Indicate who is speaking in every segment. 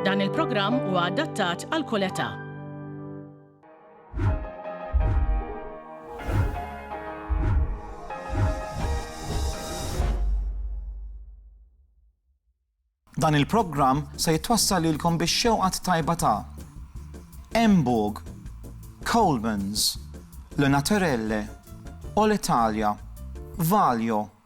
Speaker 1: Dan il-programm huwa adattat għal kull età.
Speaker 2: Dan il-programm se jitwassal lilkom biex xewqat tajba ta' Emburg, Coleman's, Le Naturelle, All Italia, Valio,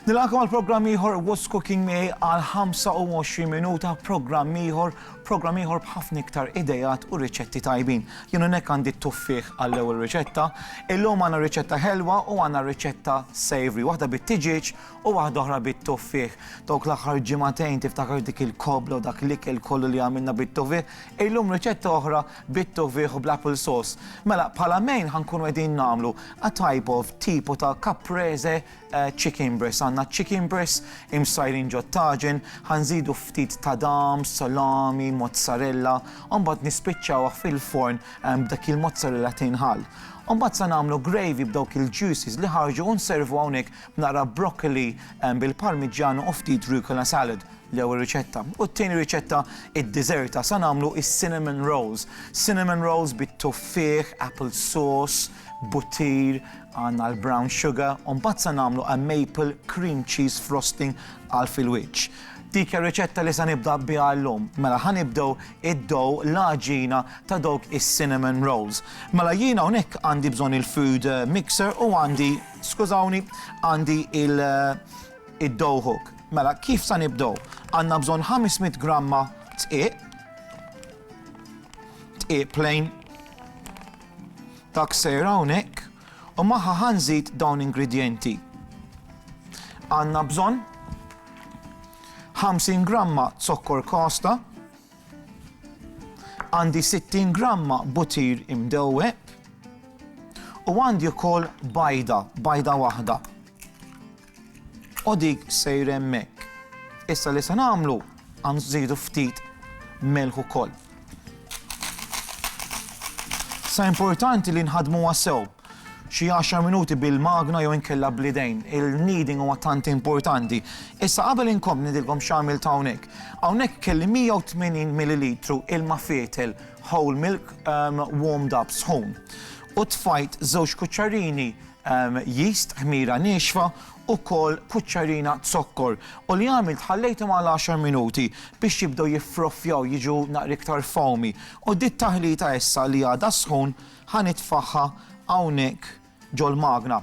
Speaker 2: Nilqakom għal programm ieħor What's Cooking Miegħi għal 25 minuta programm ieħor, programm ieħor b'ħafna iktar idejat u riċetti tajbin. Jien hawnhekk għandi t-tuffieħ għall-ewwel riċetta. Illum għandna riċetta ħelwa u għandna riċetta savory, waħda bit-tiġieġ u waħda oħra bit-tuffieħ. Dawk l-aħħar ġimagħtejn tiftakar dik il-kobla u dak l-ikel kollu li għamilna bit-tuffieħ. Illum riċetta oħra bit-tufigħ u bl-apple sauce. Mela, bħala main ħa nkunu qegħdin nagħmlu a type of tipo ta' caprese chicken breast. Għandna chicken breast imsajrin ġot-taġen, ħa nżidu ftit tadam, salami, mozzarella, u mbagħad nispiċċawh fil-forn b'dak il-mozzarella tinħall. U mbagħad sa nagħmlu gravy b'dawk il-juices li ħarġu u nservu hawnhekk b'naqra broccoli bil-parmigiano u ftit rucola salad. L-ewwel riċetta. U t-tieni riċetta iddiżerta sa nagħmlu is-cinnamon rolls. Cinnamon rolls bit-tuffieħ, apple sauce, buttir, għandna l-brown sugar, u mbagħad sa nagħmlu a maple cream cheese frosting għal fil-wiċċ. Dik hija r-riċetta li sa nibda biha llum. Mela ħa nibdew id-dough, l-għaġina ta' dawk is-cinnamon rolls. Mela jien hawnhekk għandi bżonn il-food mixer u għandi, skużawni, għandi il- Id-dough hook. Mela, kif sa nibdew? Għandna bżonn 500 gramma dqiq, dqiq plain, dak sejr hawnhekk, u magħha ħa nżid dawn ingredjenti. Għandna bżonn 50 gramma zokkor kosta, għandi 60 gramma butir imdewweb u għandi wkoll bajda, bajda waħda. U dik sejra hemmhekk. Issa li se nagħmlu għan nżidu ftit melħ ukoll. Sa importanti li nħadmuha sew xi 10 minuti bil-magna jew inkella blidejn. Il-kneading huwa tant importanti. Issa qabel inkom nidilkom x'għamil ta' hawnhekk. Hawnhekk kelli 180 ml ilma fietel whole milk um, warmed up sħun. U tfajt żewġ kuċċarini Yeast, ħmira niexfa, ukoll kuċċarina zokkor. U li għamilt ħallejthom għal għaxar minuti biex jibdew jiffroffjaw jiġu naqra iktar foamy. U di t-taħlita issa li għadha sħun ħa nitfagħha hawnhekk ġol-magna.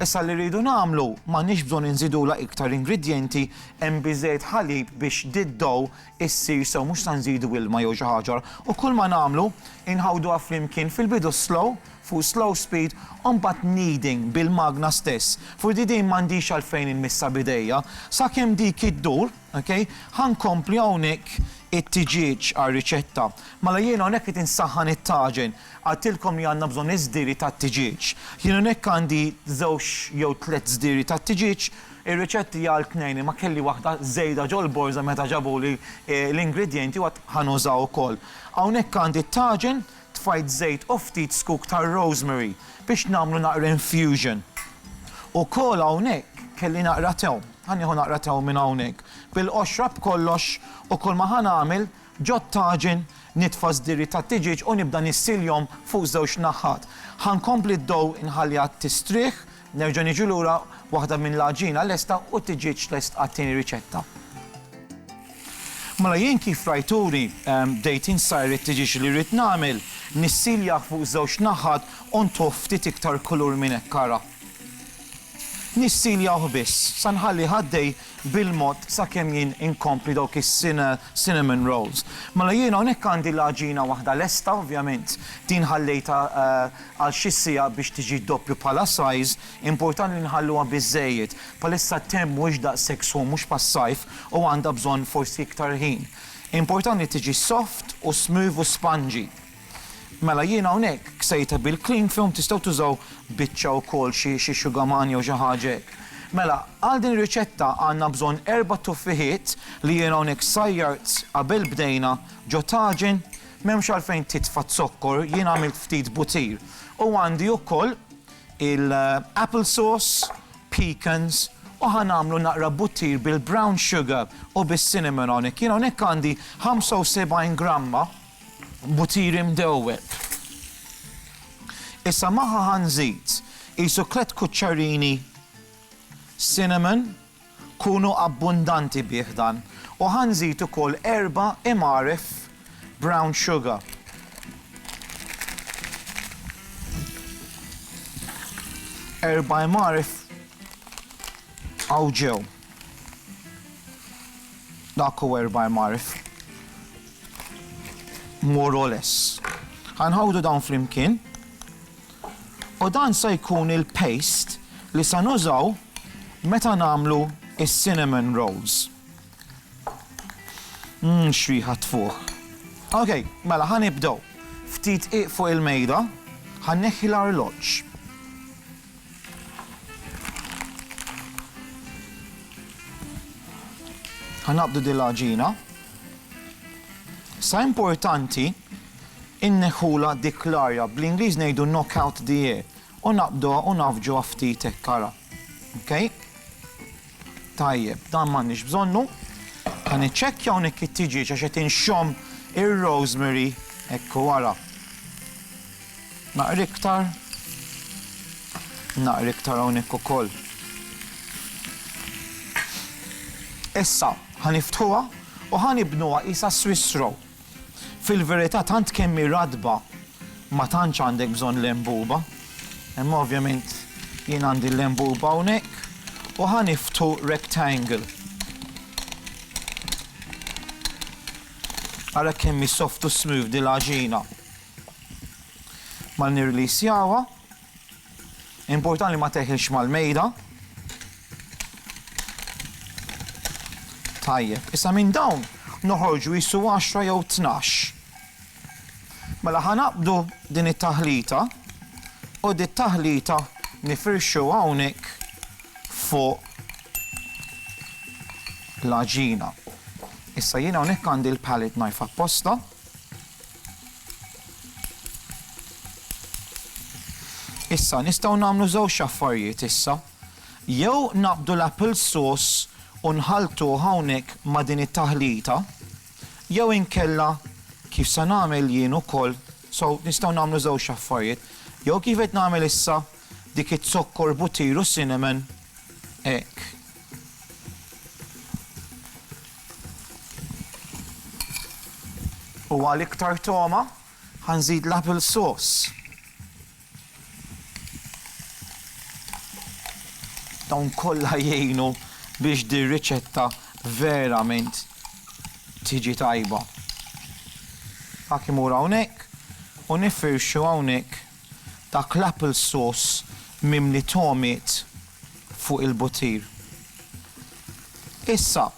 Speaker 2: Issa li rridu nagħmlu, m'għandniex bżonn inżidulha iktar ingredjenti, hemm biżżejjed ħalib biex di dough issir sew mhux sa nżidu ilma jew xi ħaġa. U kull ma nagħmlu inħawduha flimkien fil-bidu slow, fuq slow speed u mbagħad kneading bil-magna stess, forsi din m'għandix għalfejn inmissha b'idejja, sakemm dik iddur, ok, ħa nkompli hawnhekk it-tiġieġ għar-riċetta. Mela jiena hawnhekk qed insaħħan it-taġen, qaltilkom li għandna bżonn iż-żdiri tat-tiġieġ. Jien hawnhekk għandi żewġ jew tliet żdiri tat-tiġieġ, ir-riċett hija għal tnejn imma kelli waħda żejda ġol-borża meta ġabuli l-ingredjenti u għad ħa nuża wkoll. Hawnhekk għandi t-taġen, Tfajt żejt u ftit zkuk ta' rosemary biex nagħmlu naqra infusion. Ukoll hawnhekk kelli naqra tewm. Ħa nieħu naqra tewm minn hawnhekk. Bil-qoxra b'kollox u kull ma ħa nagħmel, ġot-taġen nitfa' żdierri tat-tiġieġ u nibda nissiljhom fuq żewġ naħat. Ħa nkompli d-dough inħalliha tistrieħ. Nerġa' niġu lura, waħda minn l-għaġina lesta u t-tiġieġ lest għat-tieni riċetta. Mela jien kif rajtuni, bdejt insajr it-tiġieġ li rrid nagħmel, nissiljah fuq żewġ naħat u ntuh ftit iktar kulur minn hekk ara. Nissiljah biss, sa nħallih għaddej bil-mod sakemm jien inkompli dawk is-cinnamon rolls. Mela jien hawnhekk għandi l-għaġina waħda lesta ovvjament, din ħallejtha għal xi siegħa biex tiġi doppju bħala size, importanti li nħalluha biżżejjed. Bħalissa t-temp mhuwiex daqshekk sħun mhux bħas-sajf u għandha bżonn forsi iktar ħin. Importanti li tiġi soft u smooth u spongy. Mela jiena hawnhekk ksejtha bil-cling film tistgħu tużaw biċċa wkoll xi xi xugaman jew xi ħaġa hekk. Mela għal din ir-riċetta għandna bżonn erba' tuffiħiet li jiena hawnhekk sajjart qabel bdejna ġo taġin, m'hemmx għalfejn titfa' z-zokkor, jiena għamilt ftit butir. U għandi wkoll il-apple sauce, pecans u ħa nagħmlu naqra butir bil-brown sugar u bis-cinnamon hawnhekk. Jiena hawnhekk għandi 75 gramma, Butiri mdewweb. Issa magħha ħa nżid qisu tliet kuċċarini cinnamon, kunu abbundanti bih dan, u ħa nżid ukoll erba' imgħaref brown sugar. Erba' imgħaref hawn ġew. Dak hu erba' mgħarf. More or less. Ħa nħawdu dawn flimkien. U dan se jkun il-paste li se nużaw meta nagħmlu is-cinnamon rolls. Mmm x'riħa tfuħ. Ok, mela ħa nibdew. Ftit qiegħ fuq il-mejda, ħa nneħħi l-arloġġ. Ħanaqbdu din l-għaġina. Sa importanti inneħħula dik l-arja bl-Ingliż ngħidu knock out the air u naqbduha u nafġuha ftit hekk ara. Okay? Tajjeb, dan m'għandniex bżonnu. Kan iċċekkja hawnhekk it-tiġieġ għax qed inxomm ir-rosemary hekk wara. Naqra iktar. Naqra iktar hawnhekk ukoll. Issa ħa niftħuha u ħa nibnuha qisha Swiss roll. Fil-verità tant kemm hi ratba ma tantx għandek bżonn l-enbuba. Imma ovvjament jien għandi l-enbuba hawnhekk u ħa niftħu rectangle. Ara kemm hi soft u smooth dil-għaġina. Mal nirreleasjawha, important li ma teħilx mal-mejda. Tajjeb, issa minn dawn noħorġu jissu 10 jew 12. Mela ħanaqbdu din it-taħlita u dit taħlita nifirxu hawnhekk fuq l-aġina. Issa jiena hawnhekk għandi l-palette knife apposta. Issa, nistgħu nagħmlu żewġ affarijiet issa. Jew naqbdu l-apple sauce u nħalltuh hawnhekk ma' din it-taħlita, jew inkella kif se nagħmel jien ukoll, so nistgħu nagħmlu żewġ affarijiet. Jew kif qed nagħmel issa, dik iz-zokkor, butir u cinnamon, hekk, U għal iktar togħma ħa nżid l-apple sauce. Dawn kollha jgħinu biex din riċetta verament tiġi tajba. Ħak imur hawnhekk u nifirxu hawnhekk Dak l-apple sauce mimli togħmiet fuq il-butir. Issa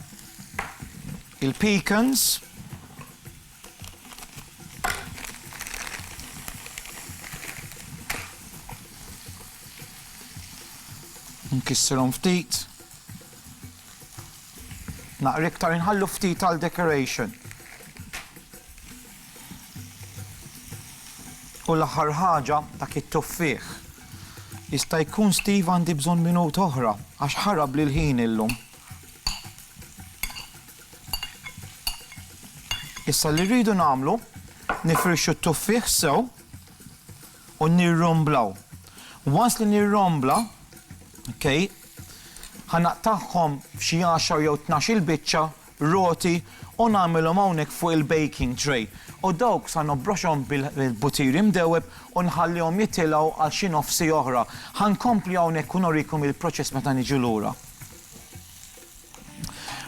Speaker 2: il-pecans. Nkissirhom ftit. Naqra iktar inħallu ftit għal decoration. U l-aħħar ħaġa, dak it-tuffieħ. Jista' jkun Steve għandi bżonn minuta oħra għax ħarabli l-ħin illum. Issa li rridu nagħmlu, nifirxu t-tuffieħ sew u nirromblaw. Once li nirrombla, okay, ħanaqtagħhom f'xi 10 jew 12 il-biċċa roti u nagħmilhom hawnhekk fuq il-baking tray u dawk sa nobroxhom bil-butir imdewweb u nħallihom jitilgħu għal xi nofs siegħa oħra. Ħa nkompli hawnhekk u nurikom il-proċess meta niġu lura.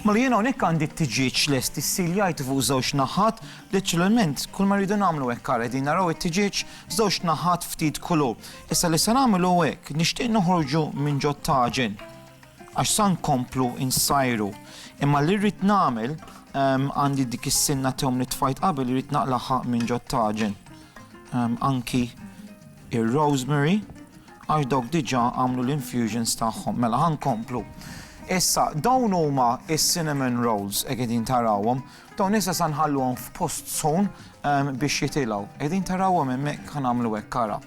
Speaker 2: Mela jien hawnhekk għandi t-tiġieġ lest issiljajtu fuq żewġ naħat, naturalment kull ma rridu nagħmlu hekk ara qegħdin naraw it-tiġieġ żewġ naħat ftit kulur. Issa li se nagħmel hu hekk, nixtieq noħorġu minn ġot-taġen. Għax sa nkomplu nsajru. Imma li rrid nagħmel, għandi dik is-sinna tew li tfajt qabel irrid naqlagħha minn ġod taġen. Anki ir-rosemary għax dawk diġà għamlu l-infusions tagħhom. Mela ħankomplu. Issa, dawn huma is-cinnamon rolls qegħdin tarawhom, Dawn issa sa nħalluhom f'post sħun biex jitilgħu. Qegħdin tarawhom hemmhekk ħa nagħmlu hekk ara.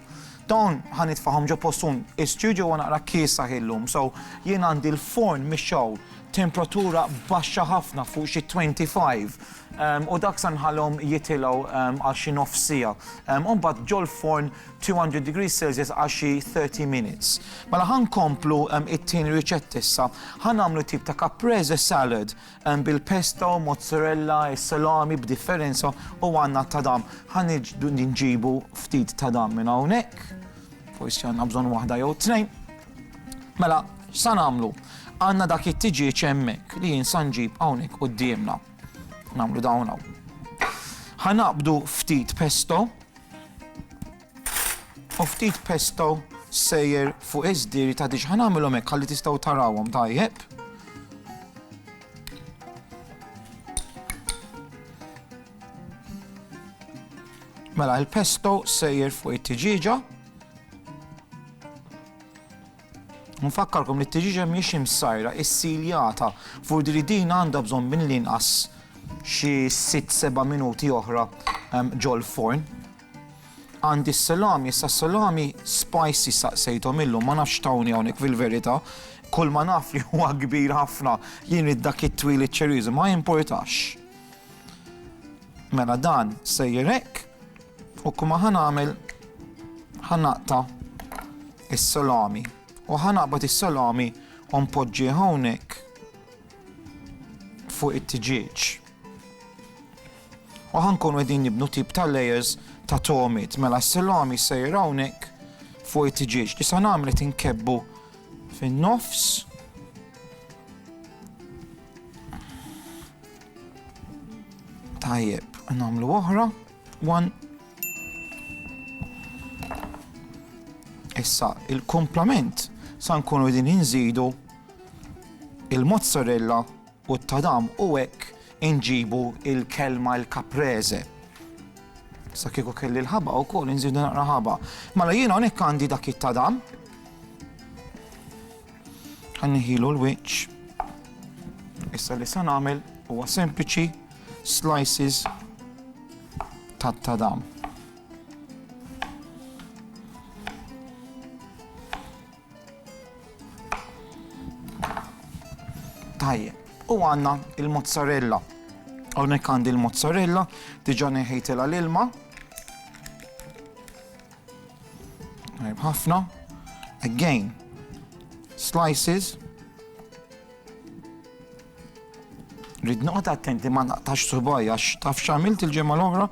Speaker 2: Dawn ħa nitfahom ġo post sħun. Is-studio huwa naqra kiesa ħillum, so jien għandi l-forn mixgħul temperatura baxxa ħafna fuq xi 25 ehm, u dak sa nħallhom jitilgħu ehm, għal xi nof sija. Ehm, u mbagħad ġol-forn 200 degrees Celsius għal xi 30 minutes. Mela ħankomplu it-tieni riċett issa, ħanamlu tip ta' caprese salad Hemm bil-pesto, mozzarella, is-salami b'differenza u għandna t-tadam. Ħa nġibu ftit tadam minn hawnhekk. Forsi għandna bżonn waħda jew tnejn. Mela, x'sa nagħmlu? Għandna dak it-tiġieġ hemmhekk li jien sa nġib hawnhekk quddiemna. Nagħmlu dawn hawn. Ħa naqbdu ftit pesto. U ftit pesto sejjer fuq iż-żdieri ta' diġ. Ħa nagħmilhom hekk ħalli tistgħu tarawhom tajjeb. Mela, il-pesto sejjer fuq it-tiġiġa. Nfakkarkom li t-tiġiġa miex imsajra, is-siljata, fuq li din għandha bżonn minn l-inqas xi 6-7 minuti oħra ġol forn. Għandi s-salami, issa s-salami spicy staqsejthom illum, ma nafx x'tawni hawnhekk fil-verità. Kulma naf li huwa kbir ħafna, jien rid dak it-twil iċ-ċeriżu, ma jimpurtax. Mela dan sejjer hekk u kuma ħa nagħmel ħa naqta' is-salami u ħa naqbad is-salami u npoġġi hawnhekk fuq it-tiġieġ. U ħankunu qegħdin nibnu tip ta' layers ta' tomit, mela s-silami jsejr hawnhekk fuq it-tiġieġ. Li sa nagħmlet inkebbu fin-nofs. Tajjeb, nagħmlu oħra. One. Issa, il-komplement sa nkunu din inżidu Il-mozzarella u t-tadam u hekk inġibu il-kelma il-caprese. Sa kieku kelli l-ħaba wkoll inżidu naqra ħaba. Mela jiena hawnhekk għandi dak it-tadam. Ħanniħilu l-wiċċ. Issa li se nagħmel huwa sempliċi slices tat-tadam. Tajjeb, u għandna l-mozzarella. Hawnhekk għandi l-mozzarella, diġà neħejtilha l-ilma. Tajjeb ħafna. Again, slices. Rid noqgħod attenti ma naqtax subaj għax taf x'għamilt il-ġimgħa l-oħra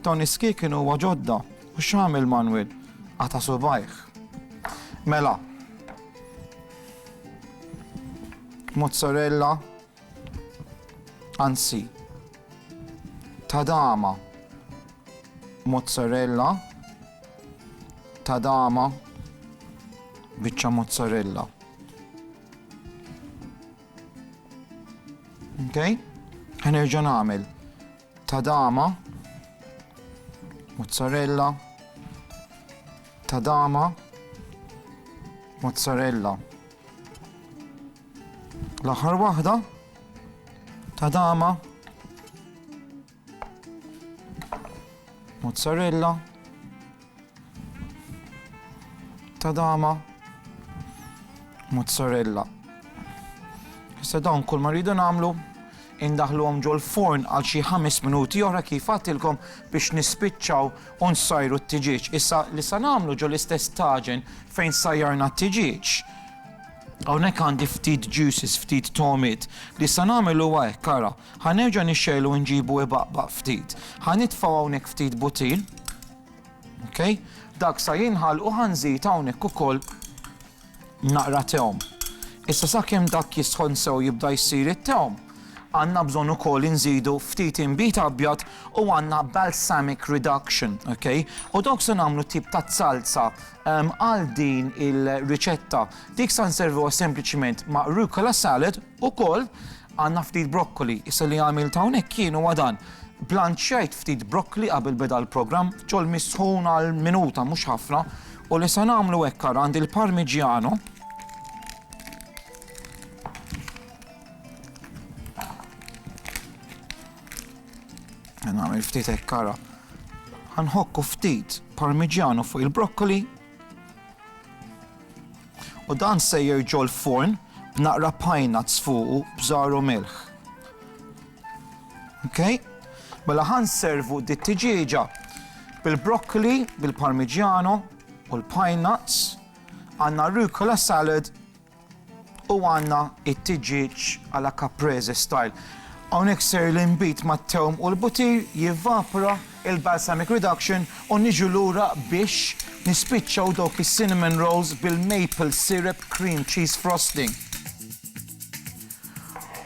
Speaker 2: dawn is-ski kienu huwa ġodda. U x'għamel Manwel? Qata' subgħajh. Mela. Mozzarella. Anzi. Tadama. Mozzarella. Tadama. Biċċa mozzarella. Okay? Ħanerġa' nagħmel. Tadama, mozzarella, tadama, mozzarella. L-aħħar waħda, tadama, mozzarella, Tadama, mozzarella. Issa dawn kull ma rridu nagħmlu indaħluhom ġol-forn għal xi ħames minuti oħra kif għatilkom biex nispiċċaw u nsajru t-tiġieġ. Issa li sa nagħmlu ġol-istess taġen fejn sajjarna t-tiġieġ. Hawnhekk għandi ftit juices, ftit tomit, li sa nagħmel huwa hekk ara. Ħanerġa' nixxejlu nġibu ibaqbaq ftit. Ħanitfgħu hawnhekk ftit butil, Okej? Dak sa jinħall u ħa nżid hawnhekk ukoll naqra tewm. Issa sakemm dak jisħon sew jibda jsir it-tewm, għandna bżonn ukoll inżidu ftit inbid abjad u għandna balsamic reduction, okej? U dawk se nagħmlu tip ta' zalza għal din il-riċetta. Dik sa nservuha sempliċiment ma' rucola salad, Ukoll għandna ftit broccoli, issa li għamilt hawnhekk jien huwa dan, blanċjajt ftit broccoli qabel beda l-programm, ġol-mi sħun għal minuta mhux ħafna, u li se nagħmlu hekk ara għandi l-parmigiano, nagħmel ftit hekk ara, ħanħokku ftit parmigiano fuq il-broccoli, U dan sejjer ġol-forn b'naqra pine nuts fuqu b'żgħar u milħ. Okay? Mela ħan servu di tiġieġa bil-broccoli, bil-parmigiano u l-pine nuts, għanna rucola salad U għandna it-tiġieġ à la caprese style. Hawnhekk ser l-inbid mat-tewm u l-butir jivvapra, il-balsamic reduction, u niġu lura biex nispiċċaw dawk is-cinnamon rolls bil-maple syrup cream cheese frosting.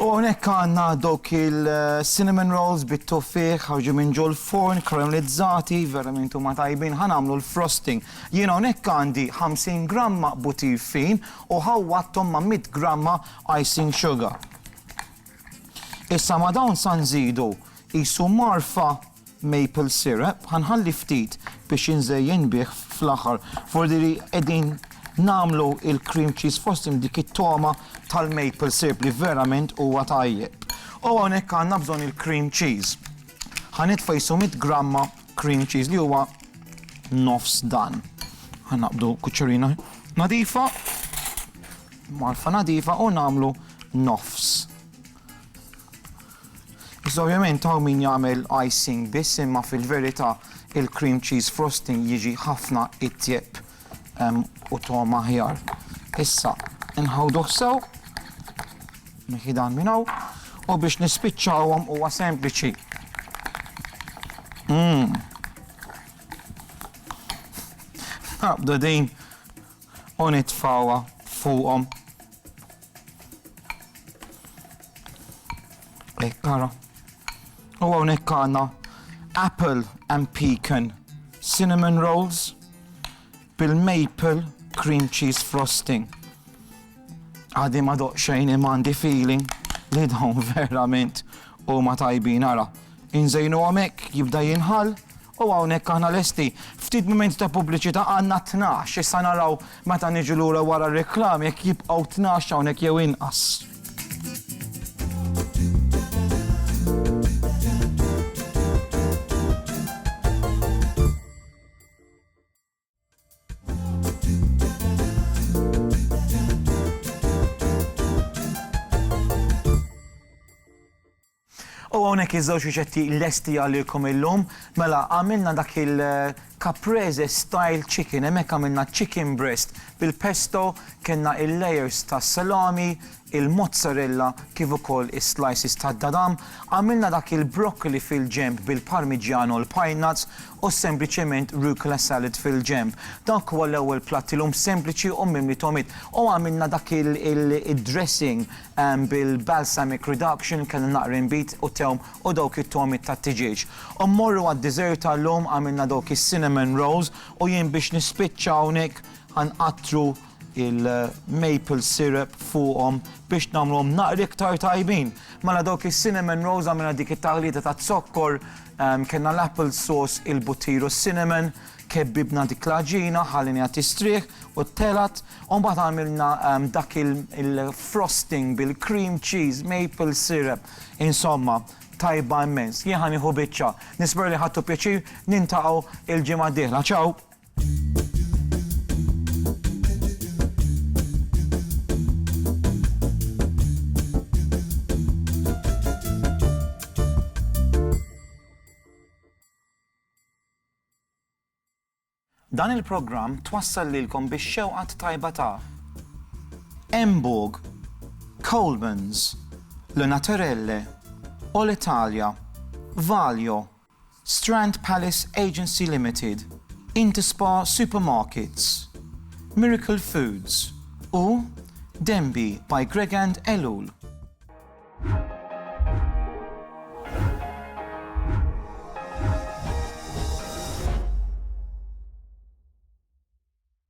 Speaker 2: U hawnhekk għandna dawk il-cinnamon rolls bit-tuffieħ ħarġin minn ġol-furn, karamelizzati, verament huma tajbin. Ħa nagħmlu l-frosting. Jien hawnhekk għandi 50 gramma butir fin u ħawwadthom ma' mitt gramma icing sugar. Issa ma' dawn sa nżidu qisu marfa maple syrup ħa nħalli ftit biex inżejjen bih fl-aħħar forsi li qegħdin nagħmlu l-cream cheese frosting b'dik it-togħma tal-maple syrup li verament huwa tajjeb. U hawnhekk għandna bżonn il-cream cheese. Ħa nitfa' qisu mitt gramma cream cheese li huwa nofs dan. Ħa naqbdu kuċċerina nadifa, marfa nadifa u nagħmlu nofs. Iżda ovvjament hawn min jagħmel icing biss imma fil-verità il-cream cheese frosting jiġi ħafna itjeb u togħom aħjar. Issa nħawduh sew mill-ħidan minn hawn u biex nispiċċawhom huwa sempliċi. Mmm. Naqbdu din u nitfawha fuqhom. Hekk ara. U hawnhekk għandna apple and pecan cinnamon rolls bil-maple cream cheese frosting. Għadi ma doq xejn imandi feeling li dawn verament u ma tajbin ara. Inżejnu għamek jibda jinħal U hawnhekk aħna lesti. Ftit mumenti ta' pubbliċità, għandna tnax, issa naraw meta niġu lura wara r-reklami jekk jibqgħu tnax hawnhekk jew inqas. U għonek iż-żewġ riċetti lesti għalikom illum, mela għamilna dak il-caprese eh, style chicken, hemmhekk għamilna chicken breast bil-pesto, kellna il-layers ta' salami, il-mozzarella kif ukoll is-slices tad-dadam, għamilna dak il-broccoli fil-ġenb bil-parmigiano, l-pine nuts u sempliċement rucola salad fil-ġenb. Dak huwa l-ewwel platt illum sempliċi u mimli togħmiet. U għamilna dak id-dressing bil-balsamic reduction, kellna naqra inbid u tewm u dawk it-togħmiet tat-tiġieġ. U mmorru għad-dessert ta' llum, għamilna dawk is-cinnamon rolls u jien biex nispiċċa hawnhekk ħa nqattru il-maple syrup fuqhom biex nagħmluhom naqra iktar tajbin. Mela dawk is-cinnamon rolls għamilna dik it-taħlita taz-zokkor, kellna l-apple sauce, il-buttir u s-cinnamon, kebbibna dik l-għaġina, ħallejniha tistrieħ u telgħet, u mbagħad għamilna dak il-frosting bil-cream cheese, maple syrup, insomma, tajba immens. Jien ħa nieħu biċċa. Nispera li ħadtu pjaċir, niltaqgħu l-ġimgħa d-dieħla. Ciao! Dan il-programm twassal lilkom bix-xewqa t-tajba ta' Emburg, Colemans, Le Naturelle, All Italia, Valio, Strand Palace Agency Limited, Interspa Supermarkets, Miracle Foods u Denby by Gregand Ellul.